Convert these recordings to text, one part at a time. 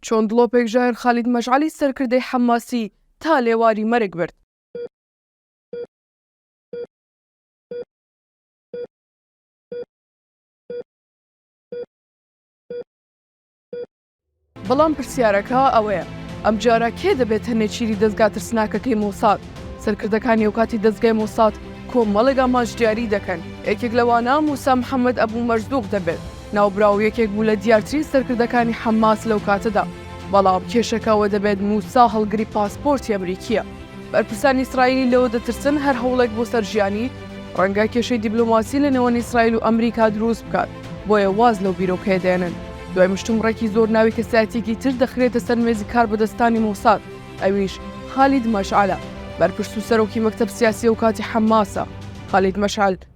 چۆن دڵۆپێک ژایەر خالید مەشعەلی سەرکردەی حەمماسی تا لێواری مەرگ برد. بەڵام پرسیارەکە ئەوەیە، ئەمجارە کێ دەبێتە نێچیری دەزگا ترسناکەکەی مۆساد؟ سەرکردەکانی ئەوکاتی دەزگای مۆساد کۆمەڵێک ئامانج دیاری دەکەن، یەکێک لەوانە موسا محەممەد ئەبوو مەرزووق دەبێت. ناوبراو یەکێک بوو لە دیارترین سەرکردەکانی حەماس لەو کاتەدا، بەڵام کێشەکە ئەوە دەبێت موسا هەڵگری پاسپۆرتی ئەمریکییە. بەرپرسانی ئیسرائیلی لەوە دەترسن هەر هەوڵێک بۆ سەر ژیانی، ڕەنگە کێشەی دیبلۆماسی لە نێوان ئیسرائیل و ئەمریکا دروست بکات، بۆیە واز لەو بیرۆکەیە دێنن. دوای مشتومڕێکی زۆر ناوی کەسایەتییەکی تر دەخرێتە سەر مێزی کاربەدەستانی مۆساد، ئەویش خالید مەشعەلە، بەرپرس و سەرۆکی مەکتەب سیاسی ئەو کاتی حەماسە. خالید مەشعەل،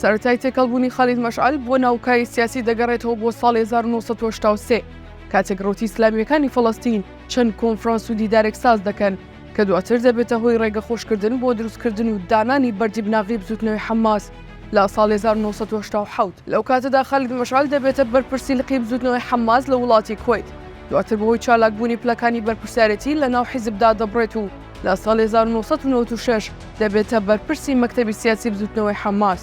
سەرەتای تێکەڵبوونی خالید مەشعەل بۆ ناو کای سیاسی دەگەڕێتەوە بۆ ساڵی 1970 کاتێک ڕوتی ئسلامیەکانی فەڵستین چەند کۆنفرانس و دیدارێک ساز دەکەن کە دواتر دەبێتە هۆی ڕێگە خۆشکردن بۆ دروستکردن و دانانی بەردی بناغی بزوتنەوەی حماس لە ساڵ 1970 لەو کاتەدا خالید مەشعل دەبێتە بەرپرسی لقی بزوتنەوەی حماس لە وڵاتی کویت دواتر بەهۆی چالاکبوونی پلەکانی بەرپرسیارەتی لە ناو حیزبدا دەبڕێت و لە ساڵی هەزار و نۆ سەد و نەوەد و شەش دەبێتە بەرپرسی مەکتەبی سیاسی بزوتنەوەی حەماس.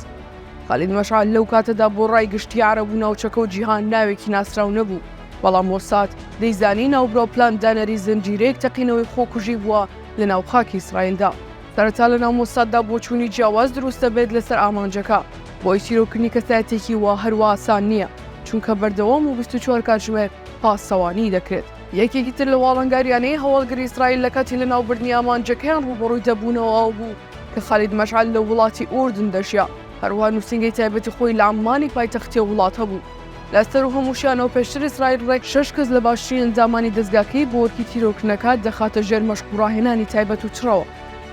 خالید مەشعەل لەو کاتەدا بۆ ڕای گشتی عەرەب و ناوچەکە و جیهان ناوێکی ناسراو نەبوو، بەڵام مۆساد دەیزانی ناوبراو پلان دانەری زنجیرەیەک تەقینەوەی خۆکوژی بووە لە ناو خاکی ئیسرائیلدا. سەرەتا لە ناو مۆساددا بۆچوونی جیاواز دروست دەبێت لەسەر ئامانجەکە، بۆی تیرۆرکردنی کەسایەتیەکی وا هەروا ئاسان نییە، چونکە بەردەوام و بیست و چوار کاتژمێر پاسەوانی دەکرێت. یەکێکی تر لەو ئاڵنگارییانەی هەواڵگری ئیسرائیل لە کاتی لەناوبردنی ئامانجەکەیان ڕووبەڕووی دەبوونەوە ئەوە بوو کە خالید مەشعەل لە وڵاتی ئوردن دەژیا، هەروەها نووسینگەی تایبەتی خۆی لە عەممانی پایتەختی ئەو وڵاتە بوو. لە سەروو هەمووشیانەوە پێشتر ئیسرائیل ڕێک شەش کەس لە باشترین ئەندامانی دەزگاکەی بۆ ئەرکی تیرۆرکردنەکە دەخاتە ژێر مەشق و ڕاهێنانی تایبەت و چڕەوە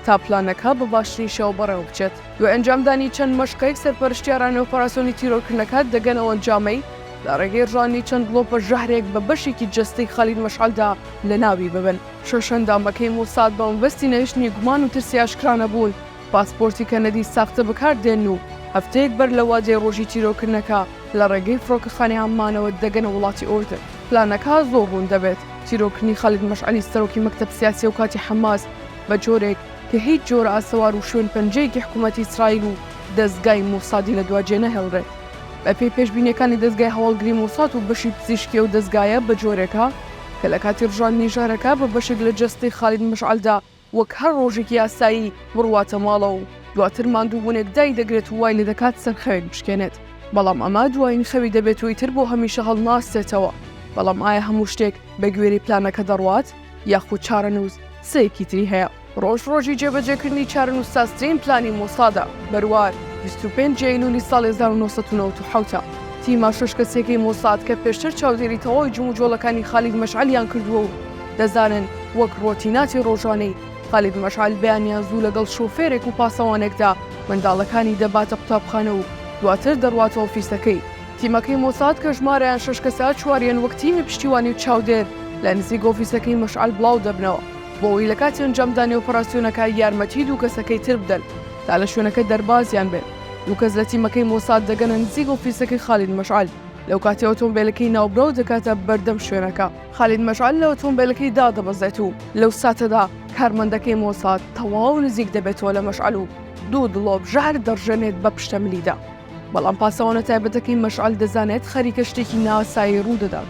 تا پلانەکە بە باشترین شێوە بەڕێوەبچێت. دوای ئەنجامدانی چەند مەشقێک سەرپەرشتیارانی ئۆپەراسیۆنی تیرۆرکردنەکە دەگەن ئەو ئەنجامەی لە ڕێگەی ڕژانی چەند ڵۆپە ژەهرێک بە بەشێکی جەستەی خالید مەشعەلدا لە ناوی ببن. شەش ئەندامەکەی موساد بە مەبەستی نەهێشتنی گومان و ترسی ئاشکرا نەبوون، پاسپۆرتی کەنەدی ساختە بەکار دێنن و هەفتەیەک بەر لە وادەی ڕۆژی تیرۆکردنەکە لە ڕێگەی فڕۆکەخانەی عەممانەوە دەگەنە وڵاتی ئوردن. پلانەکە زۆر ڕوون دەبێت، تیرۆکردنی خالید مەشعەلی سەرۆکی مەکتەب سیاسی ئەوکاتی حەماس بە جۆرێک کە هیچ جۆرە ئاسەوار و شوێنپەنجەیەکی حکوومەتی ئیسرائیل و دەزگای موسادی لە دوا جێنەهێڵرێت. بەپێی پێشبینیەکانی دەزگای هەواڵگری مۆساد و بەشی پزیشکی ئەو دەزگایە بە جۆرێکە کە لە کاتی ڕژاندنی ژەهرەکە بە بەشێک لە جەستەی خالید مشعەلدا وەک هەر ڕۆژێکی ئاسایی بڕواتە ماڵەوە و دواتر ماندووبوونێک دایدەگرێت و وای لێدەکات سەر خەوێک بشکێنێت بەڵام ئەمە دوایین خەوی دەبێت و ئیتر بۆ هەمیشە هەڵناسرێتەوە بەڵام ئایا هەموو شتێک بە گوێرەی پلانەکە دەڕوات یاخود چارەنووس سێکی تری هەیە؟ ڕۆژ ڕۆژی جێبەجێکردنی چارەنووسسازترین پلانی مۆسادە، بەروار، بیست و پێنج ئەیلوولی ساڵی هەزار و نۆ سەد و نەوەد و حەوت ە. تیمە شەش کەسییەکەی مۆساد کە پێشتر چاودێری تەواوی جموجۆڵەکانی خالید مەشعەلیان کردووە و دەزانن وەک ڕۆتیناتی ڕۆژانەی خالید مەشعەل بەیانیان زوو لەگەڵ شۆفێرێک و پاسەوانێکدا منداڵەکانی دەباتە قوتابخانە و دواتر دەڕواتە ئۆفیسەکەی تیمەکەی مۆساد کە ژمارەیان شەش کەسە، چواریان وەک تیمی پشتیوانی و چاودێر لە نزیک ئۆفیسەکەی مەشعەل بڵاو دەبنەوە. بۆوەی لە کاتی ئەنجامدانی ئۆپەراسیۆنەکە یارمەتی دوو کەسەکەی تر بدەن تا لە شوێنەکە دەربازیان بێت. دوو کەس لە تیمەکەی مۆساد دەگەنە نزیک ئۆفیسەکەی خالید مەشعەل، لەوکاتەی ئۆتۆمبێلەکەی ناوبراو دەکاتە بەردەم شوێنەکە. خالید مەشعەل لە ئۆتۆمبێلەکەی دادەبەزێت و لەو ساتەدا کارمەندەکەی مۆساد تەواو نزیک دەبێتەوە لە مەشعەل و دوو دڵۆپ ژەهر دەڕژێنێت بە پشتە ملیدا. بەڵام پاسەوانە تایبەتەکەی مەشعەل دەزانێت خەریکە شتێکی نائاسایی ڕوودەدات.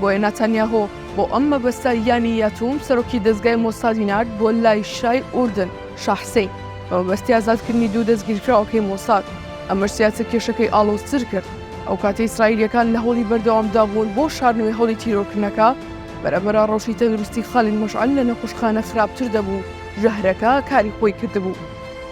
بۆیە ناتانیاهۆ بۆ ئەم مەبەستە یانی یاتوم سەرۆکی دەزگای مۆسادی نارد بۆ لای شای ئوردن شا حسین بە مەبەستی ئازادکردنی دوو دەستگیرکراوەکەی مۆساد ئەمەش زیاتر کێشەکەی ئاڵۆزتر کرد ئەو کاتەی ئیسرائیلیەکان لە هەوڵی بەردەوامدا بوون بۆ شاردنەوەی هەوڵی تیرۆرکردنەکە بەرەبەرە ڕەوشی تەندروستی خالید مەشعەل لە نەخۆشخانە خراپتر دەبوو ژەهرەکە کاری خۆی کردبوو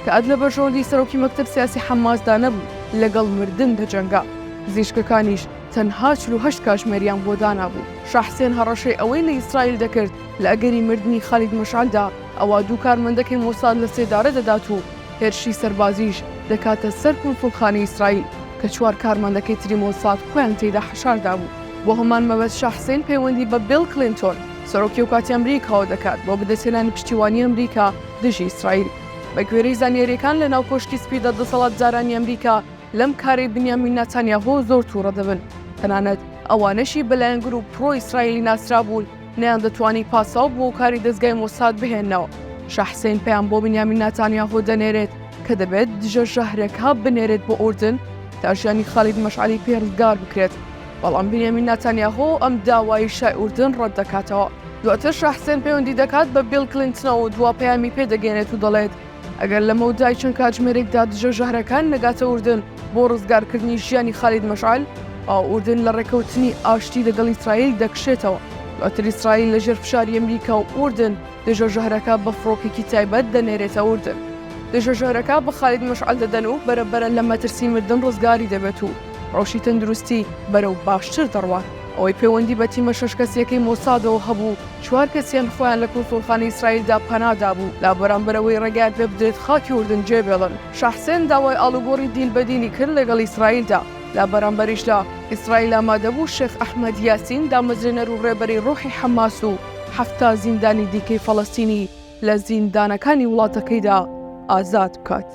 کە ئەد لە بەرژەوەندی سەرۆکی مەکتەب سیاسی حەماسدا نەبوو لەگەڵ مردن دەجەنگا پزیشکەکانیش تەنها چل و هەشت کاژمێریان بۆ دانابوو. شا حسێن هەڕەشەی ئەوەی لە ئیسرائیل دەکرد لە ئەگەری مردنی خالید مەشعەلدا ئەوا دوو کارمەندەکەی مۆساد لە سێدارە دەدات و هێرشی سەربازیش دەکاتە سەر کونسوڵخانەی ئیسرائیل کە چوار کارمەندەکەی تری مۆساد خۆیان تێیدا حەشار دابوو. بۆ هەمان مەبەست شا حسێن پەیوەندی بە بیڵ کلینتۆن سەرۆکی ئەوکاتی ئەمریکاوە دەکات بۆ بەدەستهێنانی پشتیوانی ئەمریکا دژی ئیسرائیل. بەگوێرەی زانیارییەکان لەناو کۆشکی سپیدا دەسەڵاتدارانی ئەمریکا، لەم کارەی بنیامین ناتانیاهۆ زۆر تووڕە دەبن، تەنانەت ئەوانەشی بە لایەنگر و پرۆ ئیسرائیلی ناسرابوون نەیاندەتوانی پاساو بۆ کاری دەزگای مۆساد بهێننەوە. شا حسەین پەیام بۆ بنیامین ناتانیاهۆ دەنێرێت کە دەبێت دژە ژەهرەکە بنێرێت بۆ ئوردن تا ژیانی خالید مەشعەلی پێ ڕزگار بکرێت، بەڵام بنیامین ناتانیاهۆ ئەم داوایەی شای ئوردن ڕەت دەکاتەوە. دواتر شا حسەین پەیوەندی دەکات بە بیڵ کلینتنەوە و دوا پەیامی پێ دەگەیەنێت و دەڵێت، ئەگەر لە مەودای چەند کاتژمێرێکدا دژە ژەهرەکان نەگاتە ئوردن بۆ ڕزگارکردنی ژیانی خالید مەشعل ئاو ئوردن لە ڕێکەوتنی ئاشتی لەگەڵ ئیسرائیل دەکشێتەوە دواتر ئیسرائیل لە ژێر فشاری ئەمریکا و ئوردن دژە ژەهرەکە بە فڕۆکێکی تایبەت دەنێرێتە ئوردن دژە ژەهرەکە بە خالید مەشعل دەدەن و بەرەبەرە لە مەترسی مردن ڕزگاری دەبێت و ڕەوشی تەندروستی بەرەو باشتر دەڕوات ئەوەی پەیوەندی بە تیمە شەش کەسیەکەی مۆسادەوە هەبوو چوار کەسیان خۆیان لە کونسوڵخانەی ئیسرائیلدا پەنا دابوو لە بەرامبەر ئەوەی ڕێگایان پێ بدرێت خاکی ئوردن جێبێڵن. شاحسێن داوای ئاڵوگۆڕی دیل بە دیلی کرد لەگەڵ ئیسرائیلدا، لە بەرامبەریشدا ئیسرائیل ئامادەبوو شێخ ئەحمەد یاسین دامەزرێنەر و ڕێبەری ڕۆحی حەماس و حەفتا زیندانی دیکەی فەڵەستینی لە زیندانەکانی وڵاتەکەیدا ئازاد بکات.